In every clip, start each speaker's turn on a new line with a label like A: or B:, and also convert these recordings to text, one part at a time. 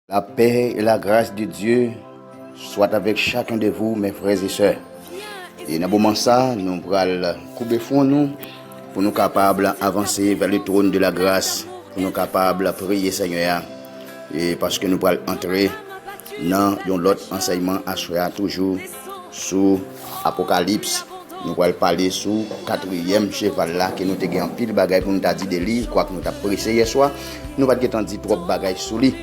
A: La paix et la grâce de Dieu soit avec chacun de vous mes frères et sœurs. Et nan moman sa, nou pral koube fwon nou pou nou kapab avanse vers le trône de la grâce, pou nou kapab priye Senyè a, e paske nou pral antre nan yon lòt ansèyman aswè a toujou. Sou Apokalips, nou pral pale sou katriyèm cheval la ke nou te gen anpil bagay pou nou ta di de li, kwak nou tap prese yèswa, nou pat gen tan di twòp bagay sou li.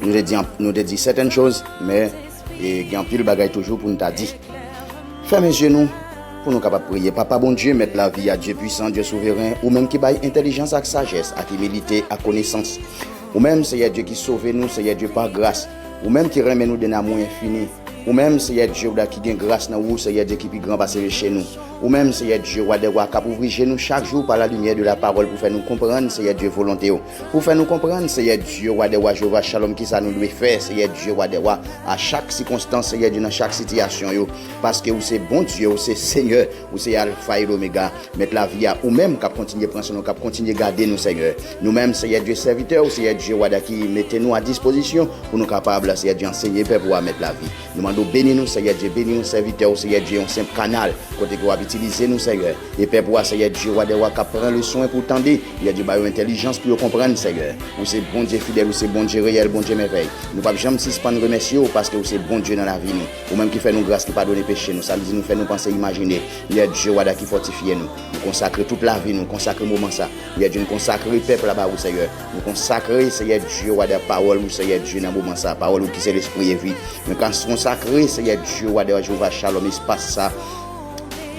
A: Nou te di nou te di certaines choses, men gen anpil bagay toujou pou nou ta di. Fèmen zye nou pou nou kapab priye. Papa Bondye, Mèt lavi a, Dye pwisan, Dye souveren, ou menm ki bay entèlijans ak sajès, ak imilite, ak konesans. Ou menm, Seyè Dye ki sove nou, Seyè Dye pa gras, Ou menm ki renmen nou d'un amour infini, Ou menm, Seyè Dye, ou da ki gen gras nan Ou, Seyè Dye ki pi gran pase meche nou. Ou menm, Seyè Dye, Wa dè Wa, k'ap ouvri je nou chak jou pa la limyè de la pawòl pou fè nou konprann, Seyè Dye, volonte Ou, pou fè nou konprann, Seyè Dye, Wa dè Wa, Jewova Chalòm, kisa nou dwe fè, Seyè Dye, Wa dè Wa, a chak sikonstans, Seyè Dye, nan chak sitiyasyon yo, paske Ou se Bondye, Ou se Senyè. Ou se Alfa et Omega, Mèt lavi a, Ou menm k'ap kontinye pran swen nou, k'ap kontinye gade nou Senyè. Nou menm Seyè Dye sèvitè ou, Seyè Dye wada ki mete nou a dispozisyon pou nou kapab Seyè Dye ansenye pèp ou a Mèt lavi. Nou mande ou beni nou Seyè Dye, beni yon sèvitè ou Seyè Dye yon senp kanal kote ke w'ap itilize nou Seyè. E pèp ou a Seyè Dye wa dè wa k'ap pran le swen pou tande Seyè Dye ba yo entèlijans pou yo konprann Seyè. Ou se Bondye fidèl, ou se Bondye reyèl, Bondye mèvèy. Nou p'ap janm sispann remèsye ou paske ou se Bondye nan lavi nou. Ou menm ki fè nou gras ki padone peche nou Samdi nou fè nou panse imajine Yè Dye wada ki fòtifye nou Nou konsakre tout lavi nou konsakre moman sa Yè Dye n konsakre pèp la ba ou Seyè Nou konsakre Seyè Dye wada pawòl ou Seyè Dye nan moman sa pawòl ou ki se lespri e vi Nou konsakre Seyè Dye wada Jewova Chalòm espas sa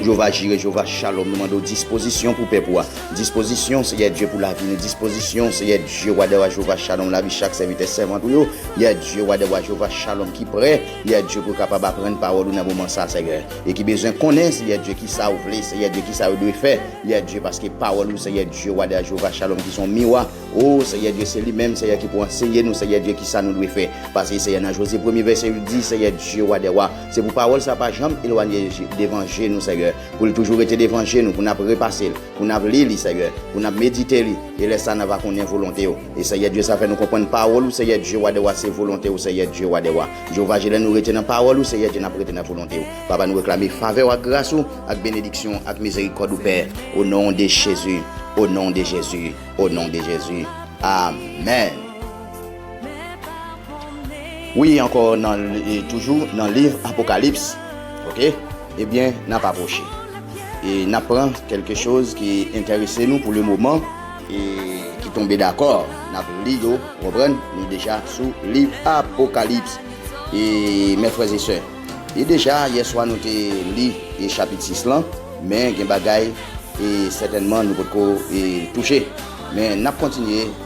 A: Jewova Jire, Jewova Chalòm, nou mande w dispozisyon pou pèp ou a. Dispozisyon, Seyè Dye, pou lavi nou. Dispozisyon, Seyè Dye, Wa dè wa, Jewova Chalòm, lavi chak sèvitè, sèvant ou yo, Yè Dye, Wa dè wa, Jewova Chalòm, ki prè, Yè Dye, pou yo kapab aprann pawòl ou nan moman sa a, Seyè, e ki bezwen konnen, Seyè Dye, ki sa ou vle, Seyè Dye, ki sa yo dwe fè, Yè Dye, paske pawòl ou, Seyè Dye, Wa dè wa, Jewova Chalòm, ki se yon miwa, O, Seyè Dye, se li menm, Seyè, ki pou anseye nou, Seyè Dye, ki sa nou dwe fè. Pase, Seyè, nan Jozye, premye vèsè yo di, Seyè Dye, Wa dè wa, Se pou pawòl sa pa janm elwanye devan je nou, Senyè, pou l toujou rete devan je nou, pou n ap repase l, pou n ap li li, Senyè, pou n ap medite li, e lè sa n a va konnen volonte w. E, Senyè Dye, sa fè nou konprann pawòl ou, Senyè Dye, Wa dè wa, se volonte w, Senyè Dye, Wa dè wa. Jewova Je, lè nou rete nan pawòl ou, Senyè Dye, n ap rete nan volonte w. Papa, nou reklame favè w ak gras ou, ak benediksyon w, ak mizerikòd ou, Pè, o non de Jezi, o non de Jezi, o non de Jezi. Amèn. Wi ankò nan toujou nan liv apokalips ok ebyen nap apwoche e nap pran kelke choz ki entèrese nou pou le moman e ki tonbe dakò nap li yo ou konprann nou deja sou liv apokalips e mè frè e sè e deja yè swa nou te li e chapit 6 lan men gen bagay e sètènman nou potko e touche men nap kontinye.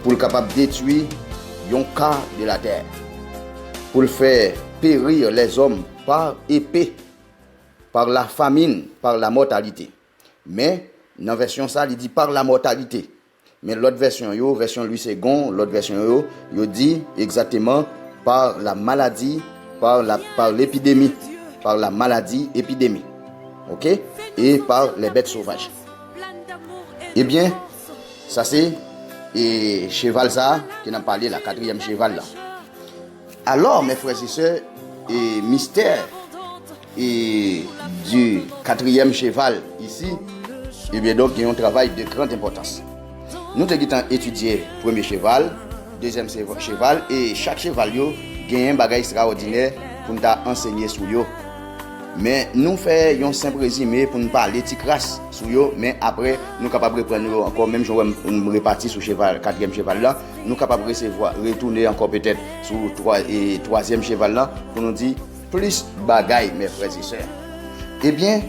A: Pou l kapab detwi yon ka de latè. Pou l fè perir lèzòm par epe, par la famin, par la mòtalite. Men, nan vèsyon sa, li di par la mòtalite. Men lòt vèsyon yo, vèsyon Lwi Segon, lòt vèsyon yo, yo di egzateman par la maladi, par la, par l'epidemi, par la maladi, epidemi. Oke? E par lè bèt sovaj. Ebyen. Sa se e cheval sa a ke n'ap pale la, katriyèm cheval la. Alò, mè frè e sè, e mistè e di katriyèm cheval isi, e byen donk gen yon travay de grand enpòtans. Nou te gitan etidye premye cheval, dezyèm cheval e chak cheval yo genyen bagay estraòdinè pou n ta ansenye sou yo. Men nou fè yon senp rezime pou n pale ti kras sou yo, men apre nou kapab reprann yo ankò menm jan wèm m repati sou cheval katriyèm cheval lan, nou kapab resevwa retoune ankò petèt sou twazyèm cheval lan pou nou di plis bagay mè frè e sè. Ebyen.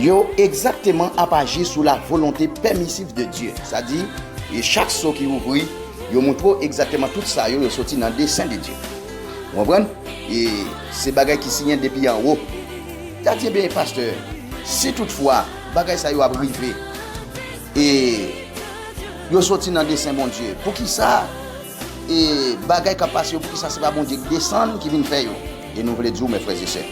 A: Yo egzakteman ap aji sou la volonte pèmisif de Dye, sa di, chak so ki ouvri, yo montre w egzakteman tout sa yo, yo soti nan desen de Dye. Ou konprann? E se bagay ki siyen depi anwo. Li a di, Enben, pastè, si tout fwa bagay sa yo ap rive, e yo soti nan desen Bondye, poukisa e bagay k ap pase yo, poukisa se pa Bondye ki desann, ki vin fè yo? E nou vle di ou, Mes frères et sœurs,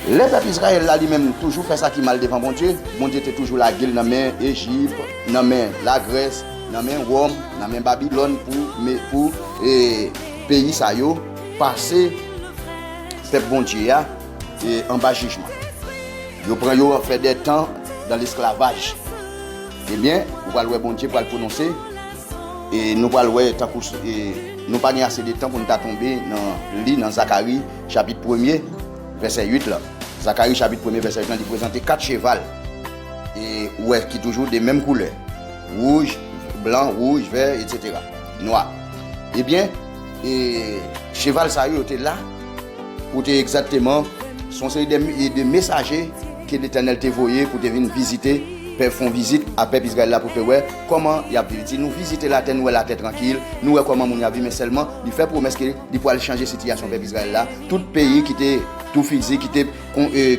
A: lè pèp Izrayèl la li menm toujou fè sa ki mal devan Bondye, Bondye te toujou lage l nan men Ejip, nan men Lagrès, nan men Wòm, nan men Babilòn pou me, pou e, peyi sa yo pase pèp Bondye a e, anba jijman. Yo pran yo fè dè tan dan lesklavaj. Ebyen, ou pral wè Bondye pral pwononse. E nou pral wè tankou nou pa gen ase de tan pou nou ta tonbe nan li nan Zakari chapit premye vèsè 8 lan. Zakari chapit premye vèsè 8 lan li prezante 4 cheval e ou wè ki toujou de menm koulè, wouj, blan, wouj, vè, etsetera, nwa. Ebyen, e cheval sa yo yo te la pou te egzakteman se yon seri de mesaje. Ke Letènèl te voye pou te vin vizite pèp fon vizit a pèp Izrayèl la pou te wè kòman yap viv li di nou vizite latè nou wè latè trankil nou wè kòman moun yo ap viv men sèlman li fè pwomès ke li pwal chanje sitiyasyon pèp Izrayèl la tout peyi ki te tou fizi ki te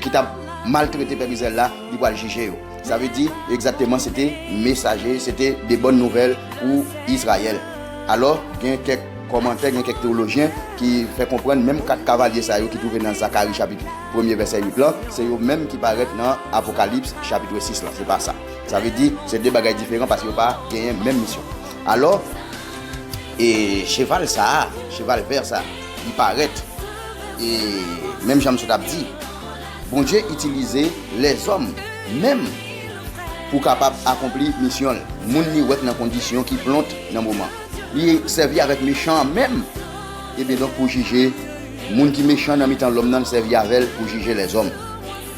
A: ki tap maltrete pèp Izrayèl la li pwal jije yo sa vle di egzakteman se te mesaje se te de bòn nouvèl pou Izrayèl alò gen kèk kòmantè gen kèk teolojyen ki fè konprann menm 4 kavalye sa yo ki twouve nan Zakari chapit. premye vèsè 8 lan, se yo menm ki parèt nan Apokalips chapitre 6 lan, se pa sa. Sa vle di, se de bagay diferan paske yo pa genyen menm misyon. Alò, e cheval sa a, cheval vè sa a, li parèt, e menm jan msye t ap di, Bondye itilize lèzòm menm pou kapab akonpli misyon l, moun li wè k nan kondisyon ki plont nan moman. Li sèvi avèk mechan an menm, ebyendonk pou jije Moun ki mechan nan mitan lòm nan sèvi avè l pou jije lèzòm.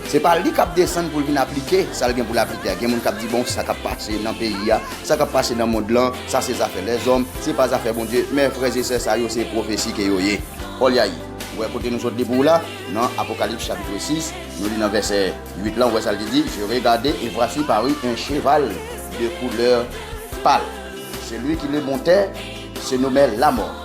A: Se pa li k ap desann pou l vin aplike sa l gen pou l aplike a. Gen moun k ap di, 'Bon, sa k ap pase nan peyi a, sa k ap pase nan mond lan, sa se zafè lèzòm, se pa zafè Bondye. Men, frèzesè, sa yo se pwofesi ke yo ye. Olyayi, ou wè kote nou sot depi ou la? Nan Apokalips chapitre 6, nou li nan vèsè 8 lan, ou wè sa l te di, Je regade, et voici parut un cheval de couleur pale. Celui qui le montait se nommait Lamort.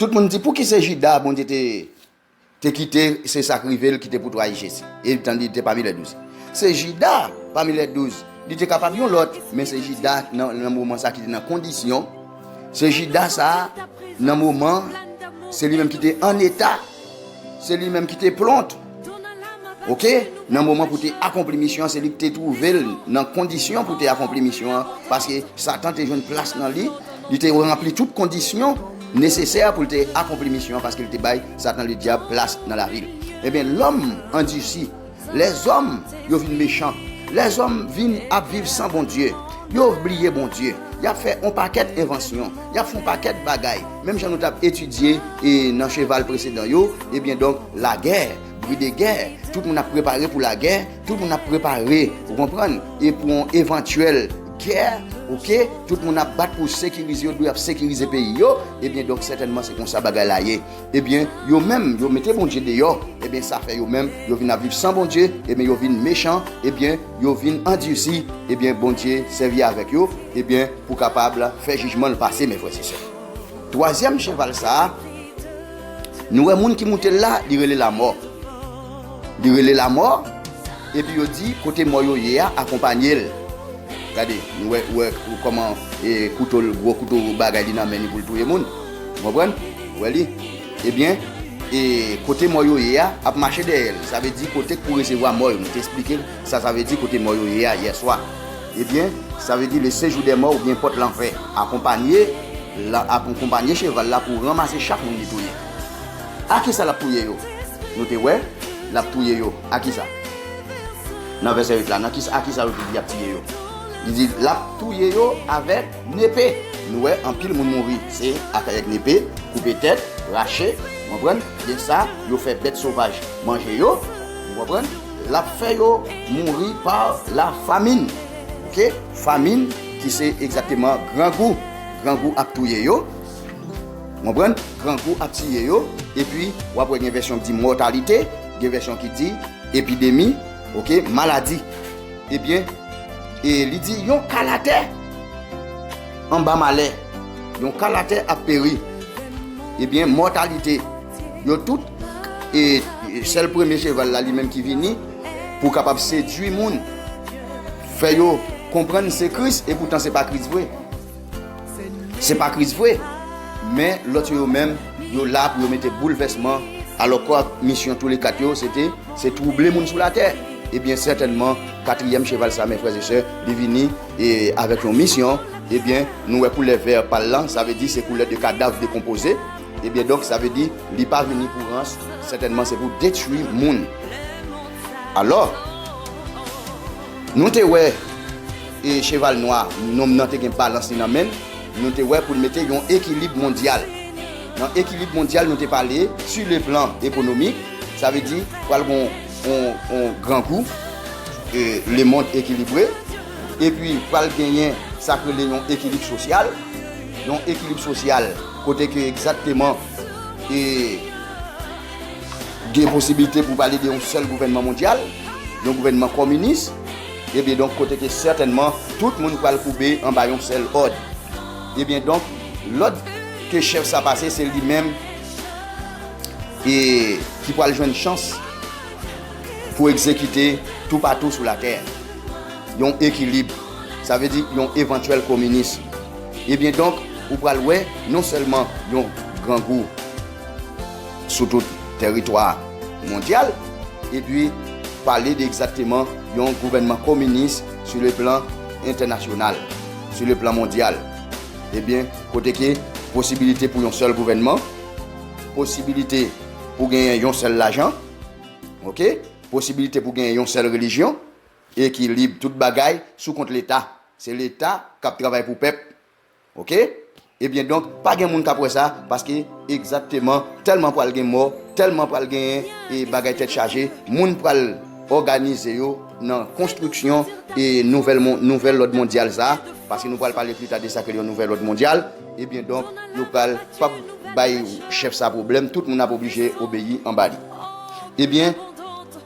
A: Tout moun di, Pouki se Jida Bondye te kite se sa k rive l ki te pou trayi Jezi, etan li te pami lè douz? Se Jida pami lè douz, li te kapab yon lòt, men se Jida nan moman sa a ki te nan kondisyon, se Jida sa a nan moman, se li menm ki te an eta, se li menm ki te plont. Ok, nan moman pou te akonpli misyon an, se li ki te twouve l nan kondisyon pou te akonpli misyon an, paske Satan te jwenn plas nan li, li te ranpli tout kondisyon nesesè pou l te akonpli misyon an, paske li te bay Satan Ledyab plas nan lavi l. Enben, lòm andisi, lèzòm yo vin mechan, lèzòm vin ap viv san Bondye, yo bliye Bondye, y ap fè on pakèt envansyon, Y ap fè yon pakèt bagay. Menm jan nou t ap etidye nan cheval presedan yo, ebyen donk lagè, bri de gè, tout moun ap prepare pou lagè, tout moun ap prepare, ou konprann, e pou yon evantyèl gè, oke, tout moun ap bat pou sekirize, yo dwe ap sekirize peyi yo, ebyen donk sètènman se konsa bagay la ye. Ebyen, yo menm, yo mete Bondye deyò, ebyen sa fè yo menm, yo vin ap viv san Bondye, ebyen yo vin mechan, ebyen, yo vin andursi ebyen Bondye sèvi avèk yo ebyen pou kapab fè jijman l pase mes frères et sœurs twazyèm cheval sa nou wè moun ki moute l la li rele lamò li rele lamò epi yo di kote mò yo ye a akonpanye l gade nou wè wè kòman e kouto l gwo kouto bagay li nan men li pou l touye moun ou konprann wè li. Ebyen, e kote mò yo ye a, ap mache dèyè l. Sa vle di kote k pou resevwa mò yo. M te esplike l sa sa vle di kote mò yo ye a yè swa. Ebyen, sa vle di le sejou dè mò oubyen pòt lanfè. Akonpanye l ap akonpanye cheval la pou ranmase chak moun li touye. A ki sa l ap touye yo? Nou te wè, l ap touye yo a ki sa? Nan vèsè 8 la, nan ki sa a ki sa yo te di y ap tiye yo? Li di l ap touye yo avèk. Nepe Nou wè anpil moun mouri se ak ak nepe koupe tèt rache ou konprann gen sa yo fè bèt sovaj manje yo ou konprann lap fè yo mouri pa la famin ok famin ki se egzakteman grangou grangou ap touye yo ou konprann grangou ap tiye yo epi wap wè gen vèsyon ki di mòtalite gen vèsyon ki di epidemi ok maladi. Ebyen, e li di yon kal atè anba malè, yon kal atè ap peri. Ebyen, mòtalite, yo tout, e sèl premye cheval la li menm ki vini pou kapab sedui moun, fè yo konprann se Kris, epoutan se pa Kris vre. Se pa kriz vre, men lòt yo yo menm, yo la pou yo mete boulvèsman, alòkwa misyon toule kat yo se te, se twouble moun sou latè. Ebyen sètènman, katriyèm cheval sa, men frè e sè, li vini e avèk yon misyon, ebyen nou wè koulè vè pa l lan, sa vle di se koulè de kadav dekonpoze, ebyen donk sa vle di li pa vini pou rans, sètènman se pou detwi moun. Alò, nou te wè. E cheval nwa nonm nan te gen balans li nan men l, nou te wè pou l mete yon ekilib mondyal. Nan ekilib mondyal nou te pale su le plan ekonomik, sa vle di pral gon yon grangou, le mond ekilibre, epi pral genyen sa k rele yon ekilib sosyal, yon ekilib sosyal kote ke egzakteman e gen posibilite pou pale de yon sèl gouvènman mondyal, yon gouvènman kominis. Ebyen donk kote ke sètènman tout moun pral koube anba yon sèl òd. Ebyen donk lòd ke chèf sa pase se li menm e ki pral jwenn chans pou egzekite toupatou sou latè. Yon ekilib, sa vle di yon evantyèl kominis. Ebyen donk ou pral wè non sèlman yon grangou. sou tout tèritwa mondyal epi pale de egzakteman yon gouvènman kominis sou le plan entènasyonal, sou le plan mondyal. Ebyen, kote ke posibilite pou yon sèl gouvènman, posibilite pou genyen yon sèl lajan, ok, posibilite pou genyen yon sèl relijyon, ekilib tout bagay sou kont leta. Se leta k ap travay pou pèp, Ok ebyen donk pa gen moun kap wè sa paske egzakteman tèlman pral gen mò tèlman pral gen e bagay tèt chaje moun pral òganize yo nan konstriksyon e nouvèl mon nouvèl lòd mondyal sa paske nou pral pale plita de sa ke l yon nouvèl lòd mondyal ebyen donk yo pral pap bay chèf sa pwoblèm tout moun ap oblije obeyi anba li ebyen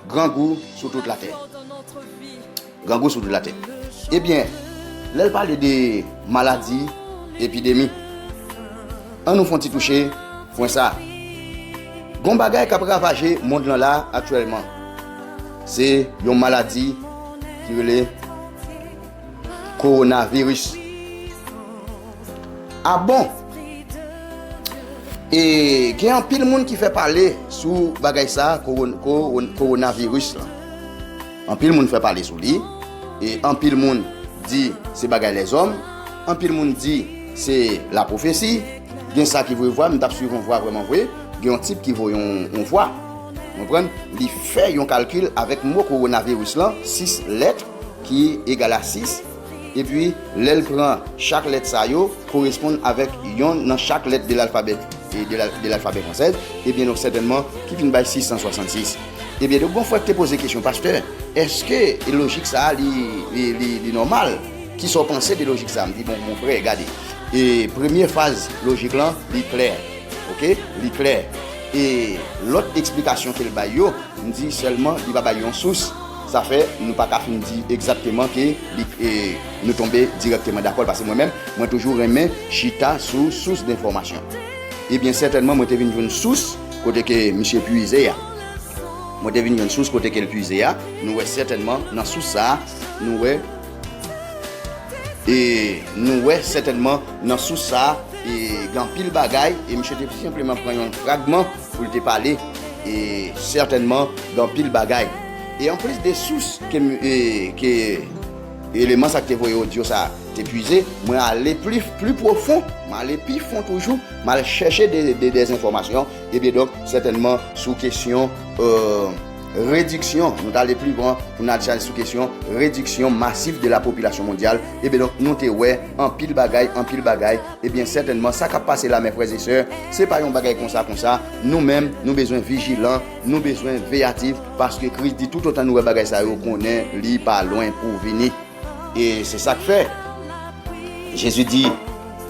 A: grangou sou tout latè. Grangou sou tout latè. Ebyen, lè l pale de maladi, epidemi, an nou fon ti touche pwen sa. Gon bagay k ap ravaje mond lan la aktyèlman. Se yon maladi ki rele Kowonaviris. A bon! E gen anpil moun ki fè pale sou bagay sa, Kowonaviris lan. Anpil moun fè pale sou li, e anpil moun di se bagay lèzòm, anpil moun di se la pwofesi, gen sa ki voye vwa, m tap swiv on vwa vrèman vre, gen yon tip ki voye on vwa, ou konprann, li fè yon kalkil avèk mo kowonaviris lan, 6 lèt ki egal a 6. Epi, lè l pran chak lèt sa yo, koresponn avèk yon nan chak lèt de lalfabè de lalfabè fransèz, ebyen donk sètènman ki vin bay 666. Ebyen donk gon frè k te poze kesyon, Pastè, èske lojik sa a li, li nòmal? Ki sa w panse de lojik sa a? M di, Bon, mon frè, gade, e premye faz lojik lan, li klè. Oke? Li klè. E lòt eksplikasyon ke l bay yo, m di, sèlman li pa bay yon sous. Sa fè, nou pa ka fin di egzakteman ke li e nou tonbe dirèkteman dakò l pase mwen menm, mwen toujou renmen chita sou sous denfòmasyon. Ebyen sètènman mwen te vin jwenn sous kote ke misye puize a. Mwen te vin jwenn sous kote ke l puize a. Nou wè sètènman nan sous sa a, nou wè e nou wè sètènman nan sous sa a e gen anpil bagay e misye te senpleman pran yon fragman. Pou l te pale e sètènman de anpil bagay. E anplis de sous ke eleman sa ki te voye odyo sa te puize, mwen ale pli pwofon, mwen ale pi fon toujou, mwen al chèche de enfòmasyon, ebyen donk sètènman sou kesyon rediksyon, nou t ale pli lwen pou n al chèche sou kesyon rediksyon masif de la popilasyon mondyal, ebyen donk nou te wè anpil bagay, anpil bagay. Ebyen sètènman sa kap pase la mè frè e sè se pa yon bagay konsa konsa nou menm nou bezwen vijilan nou bezwen veyatif paske kris di tout otan nou wè bagay sa yo konnen li pa lwen pou vini e se sak fè Jezi di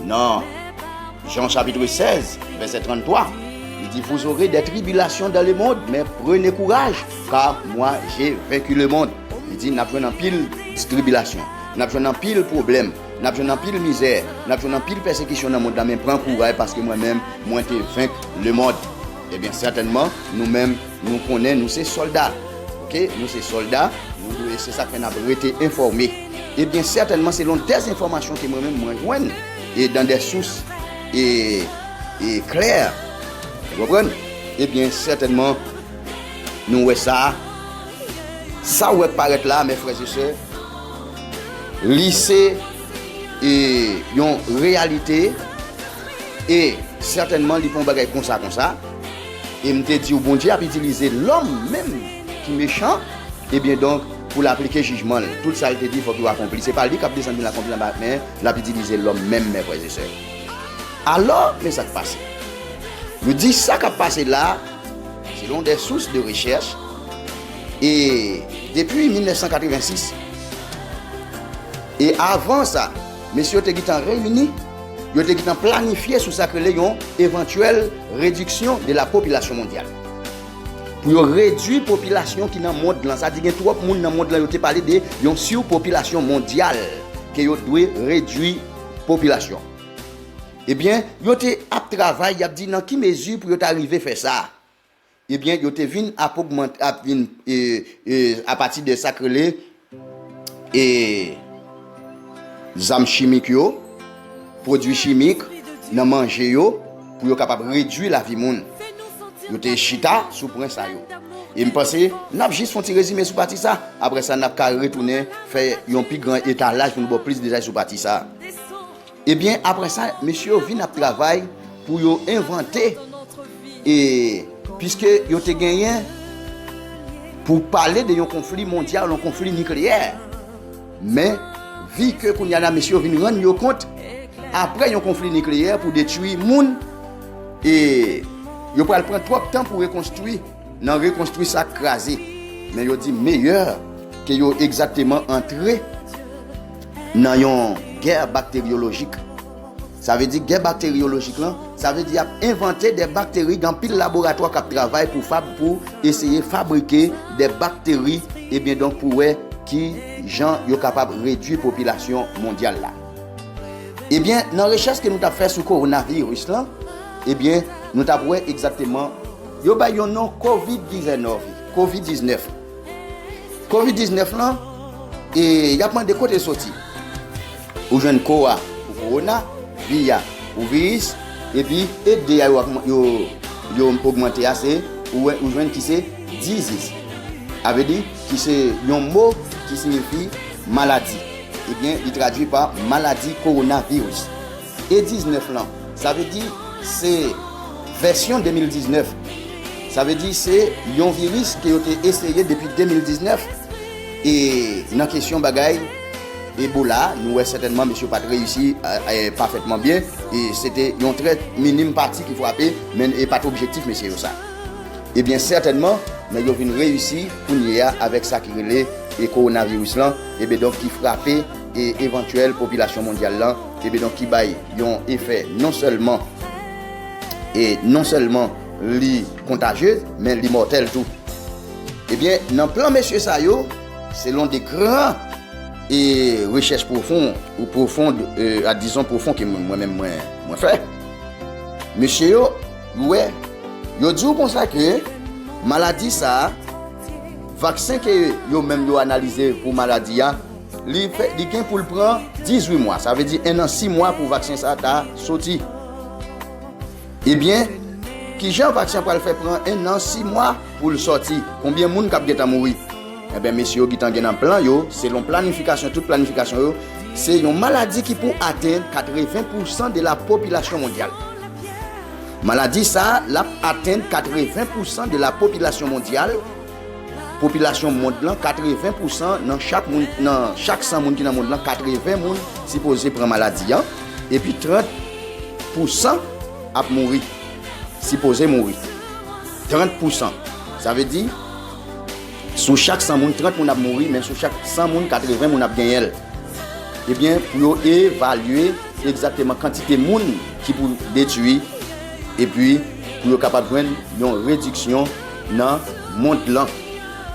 A: nan Jan chapitre 16 vèsè 33 li di vous aurez des tribulations dans le monde mais prenez courage car moi j'ai vaincu le monde li di nap jwenn anpil tribilasyon nap jwenn anpil pwoblèm Nap jwenn anpil mizè, nap jwenn anpil pèsekisyon nan mond la men pran kouray paske mwen menm mwen te venk le mond. Ebyen sètènman nou menm nou konnen nou se sòlda ok nou se sòlda nou dwe se sak fè nap rete enfòme ebyen sètènman selon dè enfòmasyon ke mwen menm mwen jwenn e dan dè sous e e klè ou konprann ebyen sètènman nou wè sa sa ou wè k parèt la mè frè e sè. Li se yon reyalite e sètènman li pa yon bagay konsa konsa. E m te di ou Bondye ap itilize lòm menm ki mechan, ebyen donk pou l aplike jijman l. Tout sa l te di fòk yo akonpli. Se pa li k ap desann vin akonpli anba men l ap itilize lòm menm men frè e sè. Alò men sa k pase. Yo di sa k ap pase la selon de sous de rechèch. E depi 1986, e avan sa, mesye yo te gentan reyini, yo te gentan planifye sou sa k rele yon evantyèl rediksyon de la popilasyon mondyal. Pou yo redui popilasyon ki nan mond lan. Sa di gen twòp moun nan mond lan, yo te pale de yon surpopilasyon mondyal ke yo dwe redui popilasyon. Ebyen, yo te ap travay, y ap di nan ki mezi pou yo ta rive fè sa. Ebyen yo te vin ap ogmante ap vin apati de sak rele e zam chimik yo, pwodwi chimik nan manje yo pou yo kapab redwi lavi moun. Yo te chita sou pwen sa yo. E m panse n ap jis fon ti rezime sou pati sa, aprè sa n ap ka retounen fè yon pi gran etalaj pou nou ba w plis detay sou pati sa. Ebyen aprè sa mesye yo vin ap travay pou yo envante e piske yo te genyen pou pale de yon konfli mondyal, yon konfli nikleyè. Men vi ke kounya la mesye yo vin rann yo kont aprè yon konfli nikleyè pou detwi moun e yo pral pran twòp tan pou rekonstwi. Nan rekonstwi sak kraze. Men yo di meyè ke yo egzakteman antre nan yon gè bakteryolojik. Sa vle di gè bakteryolojik lan, sa vle di y ap envante de bakteri, gen anpil laboratwa k ap travay pou fab pou eseye fabrike de bakteri ebyen donk pou wè ki jan yo kapab redwi popilasyon mondyal la. Ebyen nan rechèch ke nou t ap fè sou kowonaviris lan ebyen nou t ap wè egzakteman. Yo bay yon non covid dizenòve, covid 19. Covid 19 lan, e yap mande kote l soti. Ou jwenn ko a pou kowona, vi a pou viris, epi e 2 a yo yo ogmante a se ou jwenn ki se diziz. A vle di ki se yon mo ki sinifi maladi. Ebyen li tradui pa maladi kowona viris. E 19 lan, sa vle di se vèsyon 2019. Sa vle di se yon viris ke yo te eseye depi 2019. E nan kesyon bagay Ebola, nou wè sètènman mesye yo pa t reyisi pafètman byen. E se te yon trè minim pati ki frape, men e pa t objektif mesye yo sa. E byen sètènman, nèg yo vin reyisi kounye a avèk sa ki rele kowonaviris lan, e byen donk ki frape evantyèl popilasyon mondyal lan. Ebe donk ki bay yon efè non sèlman e non sèlman li kontajye men li mòtèl tou. Ebyen nan plan mesye sa yo selon de gran e rechèch pwofon ou pwofon a dizon pwofon ke mwen menm mwen fè mesye yo wè yo di w konsa ke maladi sa vaksen ke yo menm yo analize pou maladi a Li gen pou l pran 18 mwa, sa vle di 1 an 6 mwa pou vaksen sa ta soti. Ebyen, kijan vaksen an pral fè pran 1 an 6 mwa pou l soti? Konbyen moun k ap gentan mouri? Enben, mesye yo gentan gen nan plan yo, selon planifikasyon, tout planifikasyon yo, se yon maladi ki pou atenn 80 pousan de la popilasyon mondyal. Maladi sa a, l ap atenn 80 pousan de la popilasyon mondyal. Popilasyon mond lan, 80 pousan nan chak moun, nan chak 100 moun ki nan mond lan, 80 moun sipoze pran maladi an, epi 30 pousan ap mouri, sipoze mouri. 30 pousan. Sa vle di, sou chak 100 moun, 30 moun ap mouri, men sou chak 100 moun, 80 moun ap genyen l. Ebyen, pou yo evalye egzakteman kantite moun ki pou detui, epi pou yo kapab jwenn yon rediksyon nan mond lan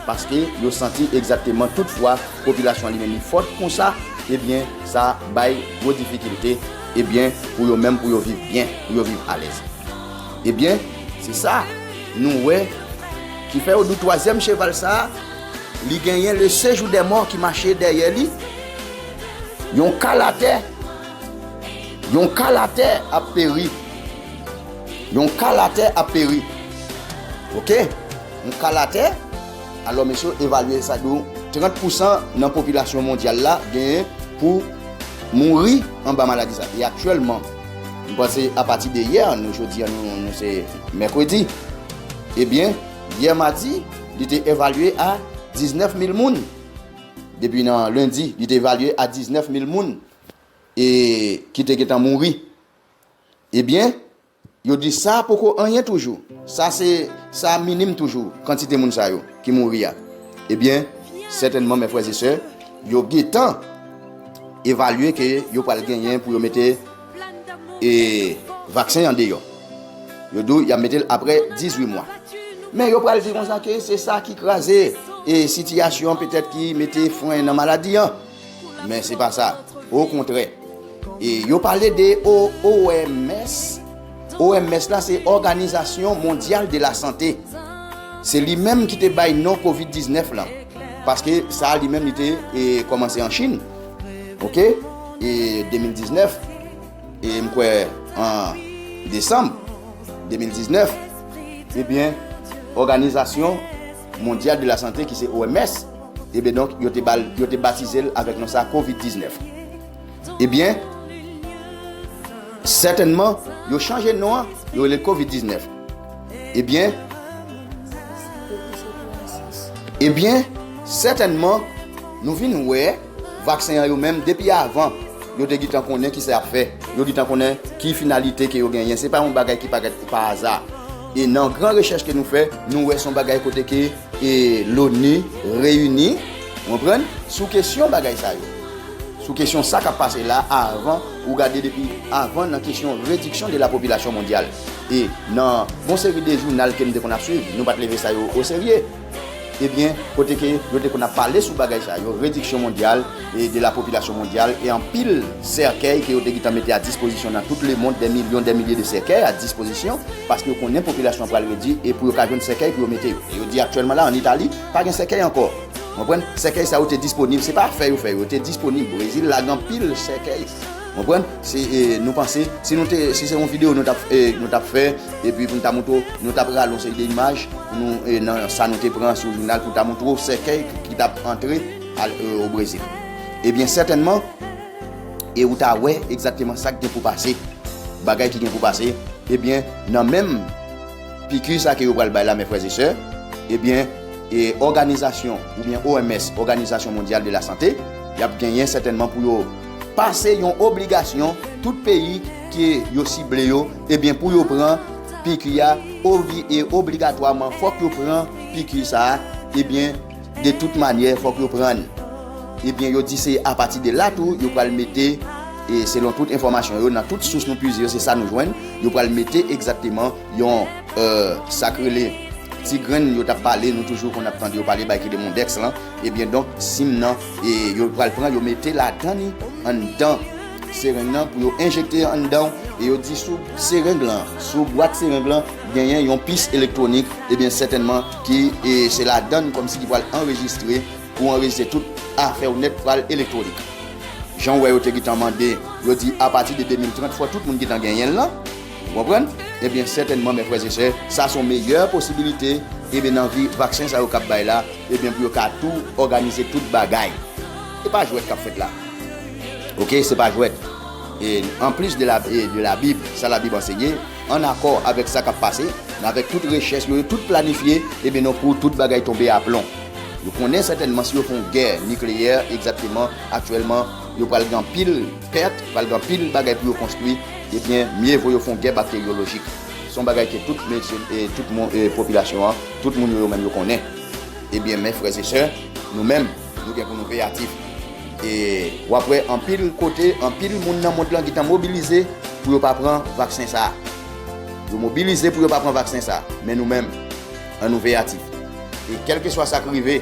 A: paske yo santi egzakteman tout fwa popilasyon an li menm li fòt konsa ebyen sa bay gwo difikilte ebyen pou yo menm pou yo viv byen pou yo viv alèz ebyen se sa nou wè ki fè yo di twazyèm cheval sa li genyen le sejou dè mò ki mache dèyè li yon kal atè yon kal atè ap peri. Yon ka latè ap peri. Ok. Yon ka latè. Alò mesye yo evalye sa dou 30 pousan nan popilasyon mondyal la genyen pou mouri anba maladi sa. E aktyèlman, m panse apati de yè, nou jodi an nou se mèkredi, ebyen yè madi li te evalye a 19 mil moun. Depi nan lendi li te evalye a 19 mil moun e ki te gentan mouri. Ebyen, yo di sa poko anyen toujou, sa se sa minim toujou, kantite moun sa yo ki mouri a. Ebyen, sètènman mè frè e sè, yo getan evalye ke yo pral genyen pou yo mete e vaksen an deyò. Yo di w y ap mete l apre 18 mwa. Men yo pral di konsa ke se sa ki kraze e sitiyasyon petèt ki mete fren nan maladi an. Men se pa sa. O kontrè. E yo pale de OMS. OMS la se Òganizasyon Mondyal de la Sante. Se li menm ki te bay non Covid 19 lan. Paske sa li menm li te e kòmanse an Chin. Ok? E 2019. E m kwè an Desanm 2019. Ebyen, òganizasyon. Mondyal de la Sante ki se OMS, ebyen donk yo te bal yo te batize l avèk non sa covid 19. Ebyen sètènman yo chanje non an yo rele l covid 19. Ebyen ebyen sètènman nou vin wè vaksen an yo menm depi avan yo te gitan konnen kisa y ap fè, yo gitan konnen ki finalite ke yo genyen, se pa yon bagay ki parèt pa aza. E nan gran rechèch ke nou fè, nou wè son bagay kote ke e Loni reyini, ou konprann, sou kesyon bagay sa yo. Sou kesyon sa kap pase la avan ou gade depi avan nan kesyon rediksyon de la popilasyon mondyal. E nan bon seri de jounal ke nou te konn ap swiv, nou pat leve sa yo o serye. Ebyen, kote ke yo te konn ap pale sou bagay sa yo, rediksyon mondyal de la popilasyon mondyal e anpil sèkèy ke yo te gitan mete a dispozisyon nan tout lemond, dè milyon, dè milye de sèkèy a dispozisyon, paske yo konnen popilasyon an pral redwi e pou yo ka jwenn sèkèy pou yo mete yo. E yo di aktyèlman la an Itali, pa gen sèkèy ankò. Konprann? Sèkèy sa yo te disponib, se pa fè yo fè yo, yo te disponib. Brezil lague anpil sèkèy. Konprann? Si nou panse, si nou te, si se yon video nou tap, nou tap fè, epi pou nou ta montre w, nou tap rale yon seri de imaj pou nou, nan sa nou te pran sou jounal pou ta montre w sèkèy ki tap antre al o Brezil. Ebyen sètènman, e ou ta wè egzakteman sa k gen pou pase, bagay ki gen pou pase, ebyen nan menm piki sa ke yo pral bay la mè frè e sè, ebyen e òganizasyon oubyen OMS, Òganizasyon Mondyal de la Sante, yap genyen sètènman pou yo. pa se yon obligasyon tout peyi ke yo sible yo ebyen pou yo pran piki a ovi e obligatwaman fòk yo pran piki sa a ebyen de tout manyè fòk yo pran l ebyen yo di se apati de la tou yo pral mete e selon tout enfòmasyon yo nan tout sous nou pwize yo se sa nou jwenn yo pral mete egzakteman yon sa k rele ti grenn yo t ap pale nou toujou konn ap tande yo pale bay ki de mondèks lan. Ebyen donk sim nan yo pral pran yo mete ladan li anndan sereng nan pou yo enjekte anndanw e yo di sou sereng lan sou bwat sereng lan genyen yon pis elektwonik ebyen sètènman ki se ladann kòmsi ki pral anrejistre pou anrejistre tout afèw nèt pral elektwonik janw wè yo te gintan mande yo di apati de 2030 fò tout moun gintan genyenl lan. Ou konprann? Ebyen sètènman mè frè e sè, sa son meyè posibilite ebyen nan vi vaksen sa yo kap bay la ebyen pou yo ka tou òganize tout bagay. E pa jwèt kap fèt la. Ok se pa jwèt. E an plis de la e de la bib sa la bib ansenye an akò avèk sa kap pase nan avèk tout rechèch yo yo tout planifye ebyen non kou tout bagay tonbe aplon. Yo konnen sètènman si yo fon gè nikleyè egzatteman aktyèlman yo pral gen anpil pèt, pral gen anpil bagay pou yo konstwi, ebyen mye vo yo fon gè bakteryolojik. Son bagay ke tout medsen, tout popilasyon an, tout moun yo yo menm yo konnen. Ebyen men frè e sè, nou menm nou gen pou nou veyatif. E wap wè anpil kote, anpil moun nan mond lan gentan mobilize pou yo pa pran vaksen sa. Yo mobilize pou yo pa pran vaksen sa. Men nou menm, an nou veyatif. E kelkeswa sak rive.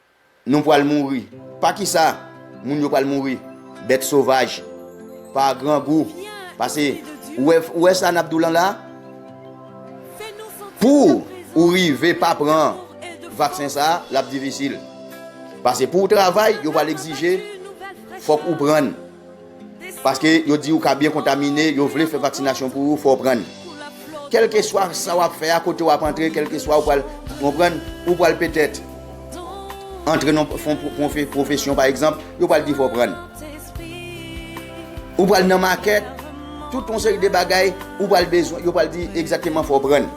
A: Nou pral mouri. Pa ki sa? Moun yo pral mouri. Bèt sovaj. Pa grangou. Pase. Ou wè, ou wè sa n ap di w lan la a? Pou ou rive pa pran vaksen sa a, l ap difisil. Pase pou ou travay, yo pral egzije fòk ou pran l. Paske yo di ou ka byen kontamine, yo vle fè vaksinasyon pou ou, fò w pran. Kèlkeswa sa w ap fè a, kote w ap antre, kèlkeswa ou pral, ou konprann, ou pral petèt antre nan yon pwofesyon pa egzanp, yo pral di fò w pran. Ou pral nan makèt, tout yon seri de bagay, ou pral bezwen, yo pral di egzateman fò w pran.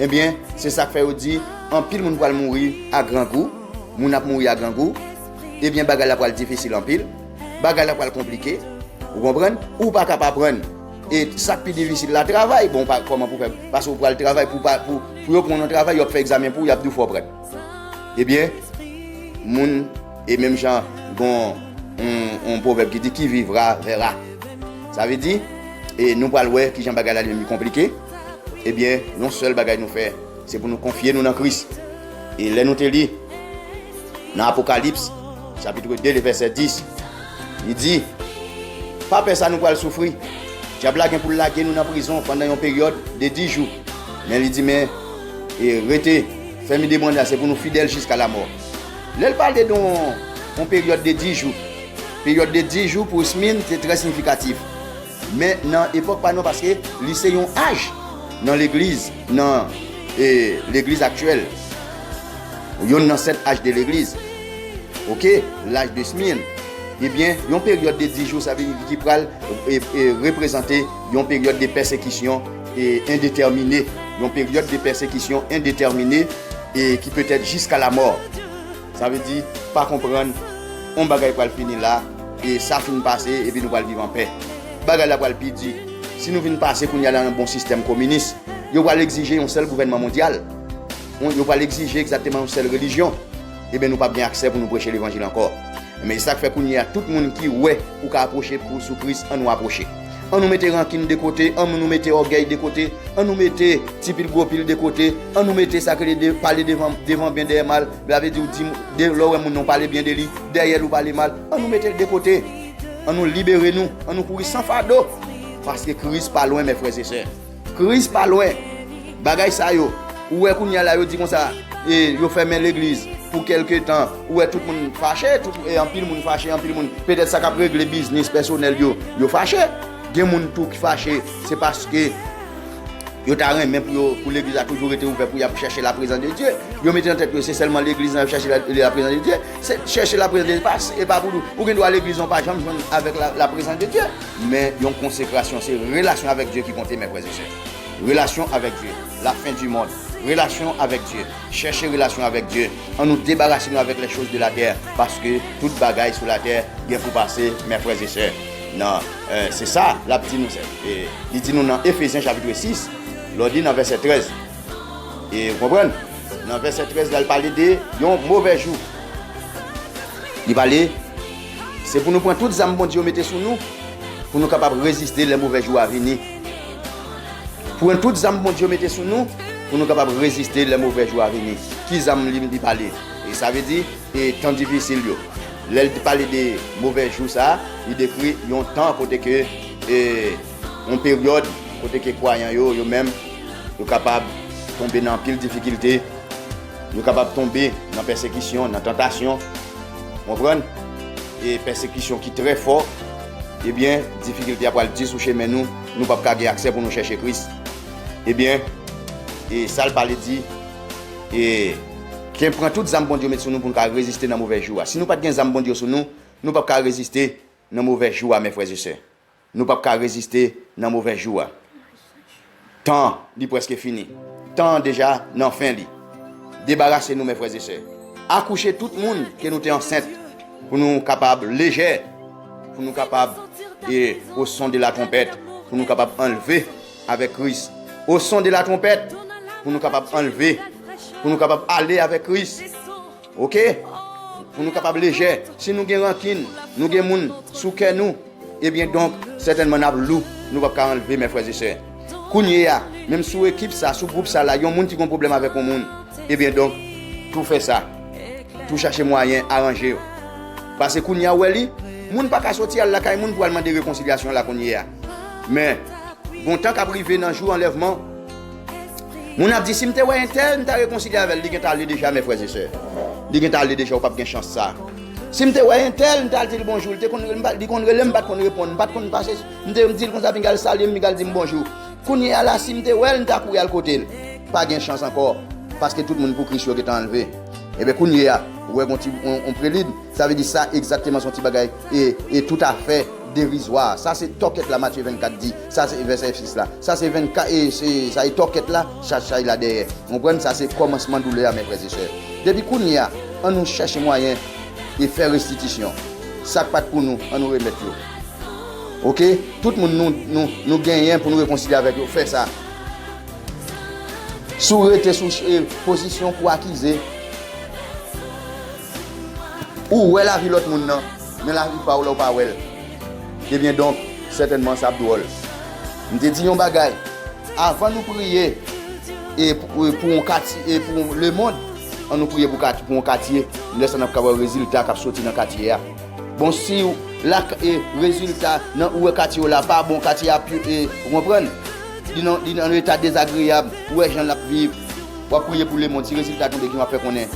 A: Ebyen, eh se sa k fè yo di, anpil moun pral mouri a grangou, moun ap mouri a grangou, ebyen eh bagay la pral difisil anpil. bagay la pral konplike ou konprann ou pa ka pa prann e sak pi difisil la travay bon pa koman pou fè pasou pral travay pou pa pou pou yo pran travay yo fè examen pou yap dou fò prann e byen moun e menm jan gon on provèb ki di ki vivra vera sa ve di e nou pral wè ki jan bagay la li konplike e byen yon sèl bagay nou fè se pou nou konfye nou nan kris E lè nou te li nan Apokalips chapitre 2 le vèsè 10, li di, Pa pè sa nou pral soufri. Dyab la gen pou l lage nou nan prizon pandan yon peryòd de dis jou. Men li di, men, e rete fèm ide bwanda se pou nou fidèl jiska lamò. Lè l pale de yon peryòd de dis jou, peryòd de dis jou pou Smyrne te trè siyifikatif. Men nan epòk pa nou paske li se yon aj nan legliz nan legliz aktyèl yonn nan sèt aj de legliz ok laj de smirn ebyen yon peryòd de di jou sa vle di ki pral reprezante yon peryòd de pèsekisyon e endetèmine yon peryòd de pèsekisyon endetèmine e ki petèt jiska lamò. Sa vle di, pa konprann, yon bagay pral fini la, e sa fin pase, epi nou pral viv anpè. Bagay la pral pi di. Si nou vin pase kounye a nan yon bon sistèm kominis, yo pral egzije yon sèl gouvènman mondyal, yo pral egzije egzakteman yon sèl relijyon, eben nou p ap gen aksè pou nou preche levanjil ankò. Enben, e sa k fè kounye a tout moun ki wè ou ka apwoche sou Kris, annou apwoche. An nou mete rankin de kote, an nou mete ògèy de kote, an nou mete ti pil gwo pil de kote, an nou mete sa k rele de pale devan byen dèyè mal, la vle di ou di moun, lè ou wè moun nan ou pale byen de li, dèyè l ou pale mal, an nou mete l de kote, an nou libere nou, an nou kouri san fado, paske Kris pa lwen mè frè e sè. Christ pa lwen bagay sa yo ou wè kounya la yo di konsa e yo fèmen legliz pou kelke tan ou wè tout moun fache tout e anpil moun fache anpil moun petèt sa kap regle biznis pèsonèl yo yo fache gen moun tou ki fache se paske yo ta renmen pou yo pou legliz la toujou rete ouvè pou yap chèche la prezans de Dye yo mete nan tèt yo se sèlman legliz nan yap chèche la prezans de Dye se chèche la prezans de Dye e pa pou ou gen dwa legliz nan ou pa janm jwenn avèk la prezans de Dye Men yon konsekrasyon se relasyon avèk Dye ki konte mè frè e sè. Relasyon avèk Dye, la fin du monde. Relasyon avèk Dye, chèche relasyon avèk Dye. An nou debarase nou avèk les choses de la terre paske tout bagay sou la terre gen pou pase mè frè e sè. Nan se sa lap di nou sè. E li di nou nan Ephesiens chapitre 6 lò li nan vèsè 13. E ou konprann? Nan vèsè 13 la li pale de yon movè jou. Li pale. Se pou nou pran tout zam Bondye yo mete sou nou pou nou kapab reziste lè move jou a vini. Pran tout zam Bondye yo mete sou nou pou nou kapab reziste lè move jou a vini. Ki zam li li pale? E sa vle di e tan difisil yo. Lè li te pale de move jou sa, li dekri yon tan kote ke e yon peryòd kote ke kwayan yo yo menm yo kapab tonbe nan anpil difikilte. Nou kapab tonbe nan pèsekisyon, nan tantasyon, konprann? E pèsekisyon ki trè fò, ebyen, difikilte a pral di sou chemen nou, nou pap ka gen aksè pou nou chèche Kris. Ebyen, e sa l pale di, e. Ke pran tout zam Bondye met sou nou pou nou ka reziste nan move jou a. Si nou pa t gen zam Bondye sou nou, nou pap ka reziste nan move jou a, mè frèzesè. Nou pap ka reziste nan movè jou a. Tan li preske fini. Tan an deja nan fen li. Debarase nou mè frè e sè. Akouche tout moun ke nou te ansent pou nou kapab lejè, pou nou kapab e o son de la twonpèt pou nou kapab anlve avèk Kris. O son de la twonpèt pou nou kapab anlve, pou nou kapab ale avèk Kris. Ok pou nou kapab lejè si nou gen rankin nou gen moun sou kè nou ebyen donk sètènman nap lou nou pap ka anlve mè frè e sè kounyea menm sou ekip sa sou gwoup sa la yon moun ki gon pwoblèm avèk yon moun ebyen donk tou fè sa tou chache mwayen aranje yo pase kounyea ou wè li moun paka soti al lakay moun pou al mande rekonsilyasyon la kounyea men gon tan kap rive nan jou anlèvman. Moun ap di si m te wè entèl m ta rekonsilye avèl li gentan ale deja mè frè ze sè li gentan ale deja ou pap gen chans sa si m te wè entèl m tal dil bonjou li te konn rele m li konn rele m pat konn reponn m pat konn pase m te dil konsa pinga l salye m pinga l di m bonjou kounye a la si m te wèl m ta kouri al kote l pa gen chans ankò paske tout moun pou kris yo gentan anlve ebyen kounye a ou wè gon ti on prelid. Sa vle di sa egzakteman son ti bagay e e toutafè derizwa. Sa se tòkèt la Matye 24 di. Sa se vèsè 6 la. Sa se 24 e se sa e tòkèt la chaj chay la dèyè. Konprann sa se kòmansman doulè a mè frè ze sè. Depi kounye a an nou chèche mwayen e fè restitisyon. Sak pat pou nou an nou remèt yo. Ok tout moun nou nou nou genyen pou nou rekonsilye avèk yo fè sa. Si w rete sou e pozisyon pou akize. Ou wè lavi lòt moun nan, men lavi pa ou la ou pa wè l. Ebyen donk, sètènman sa ap dwòl. M te di yon bagay, Avan nou priye pou yon katye, e pou lemond, an nou priye pou yon katye, lè sa n ap ka wè rezilta k ap soti nan katye a. Bon, si rezilta nan ou wè katye w la pa bon, katye a ap, ou konprann, li nan eta dezagreyab, ou wè jan l ap viv. Wap priye pou lemond si rezilta tonbe kijan wap fè konnen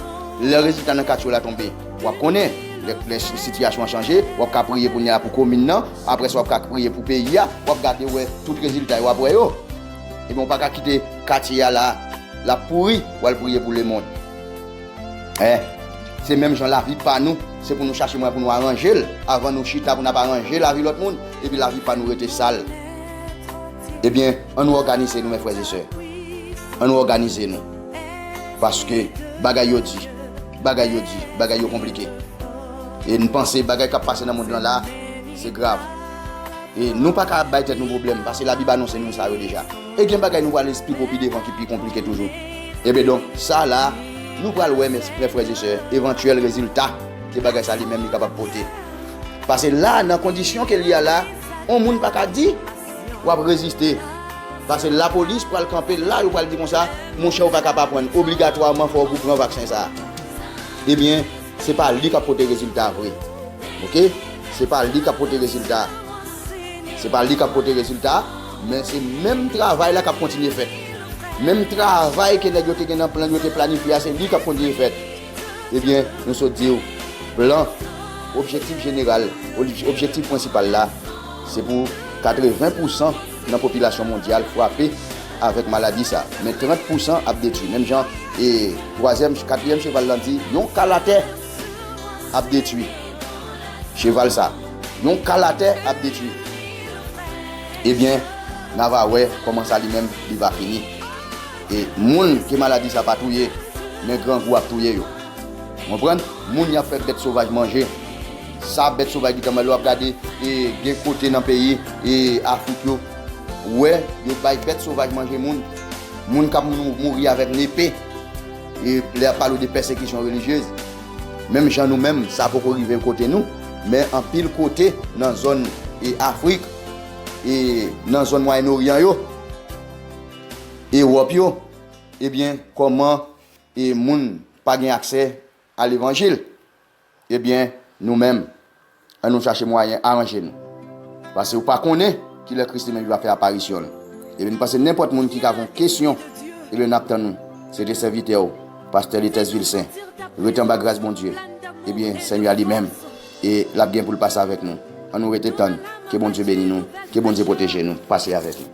A: lè rezilta nan katchou la tonbe wap konnen lè sitiyasyon an chanje wap ka priye kounya pou komin nan aprè sa wap ka priye pou peyi a wap gade wè tout rezilta yo wap wè yo ebyen ou paka kite katye a la lap pouri wal priye pou lemond eh se menm jan lavi pa nou se pou nou chache mwayen pou nou aranjel avan nou chita pou nap aranje lavi lòt moun epi lavi pa nou rete sal. Ebyen, an nou òganize nou men frè e sè. An nou òganize nou. Paske bagay yo di. Bagay yo di. Bagay yo konplike. E nou panse bagay kap pase nan mond lan la, se grav. E nou pa ka ap bay tèt nou pwoblèm, paske la Bib anonse nou sa yo deja. E gen bagay nou pral esplike pi devan ki pi konplike toujou. Ebyen donk, sa la, nou pral wè men frè e sè, evantyèl rezilta ke bagay sa li menm li kapab pote. Pase la, nan kondisyon ke li a la, on moun pa ka di. Wap reziste. Pase la polis pral kanpe la yo pral di konsa monchè ou paka pa prann obligatwaman fòk ou pran vaksen sa ebyen se pa li kap pote rezilta vre ok se pa li kap pote rezilta se pa li kap pote rezilta men se menm travay la kap kontinye fèt menm travay ke nèg yo te gen nan plan yo te planifye a se li kap kontinye fèt Ebyen, nou sot di w, blan, objektif jeneral, objektif prensipal la, se pou 80 pousan nan popilasyon mondyal frape avèk maladi sa, men 30 pousan ap detwi. Menm jan e twazyèm, katriyèm cheval lan di, yon ka latè ap detwi cheval sa. Yon ka latè ap detwi. Ebyen, na va wè kòman sa li menm li va fini. E moun ke maladi sa pa touye, men grangou ap touye yo. Ou konprann? Moun yap fè bèt sovaj manje. Sa bèt sovaj gentan manje. Lè wap gade e gen kote nan peyi e Afrik yo, ou wè yo bay bèt sovaj manje moun. Moun kap mouri avèk nepe. E lè yap pale w de pèsekisyon relijyez. Menm jan nou menm, sa poko rive kote nou, men anpil kote nan zòn e Afrik e nan zòn Mwayen Oryan yo. Ewòp yo, ebyen kòman e moun pa gen aksè a levanjil? Ebyen nou menm an nou chache mwayen aranje nou. Pase ou pa konnen kilè Kris li menm li va fè aparisyon l. Ebyen m panse nenpòt moun ki ka gon kesyon ebyen nap tann ou. Se te sèvitè ou, Pastè Letès Vilsen. Ret anba gras Bondye. Ebyen Senyè a li menm. E lap gen poul pase avèk nou. An nou rete tann. Ke Bondye beni nou. Ke Bondye pwoteje nou. Pase avèk nou.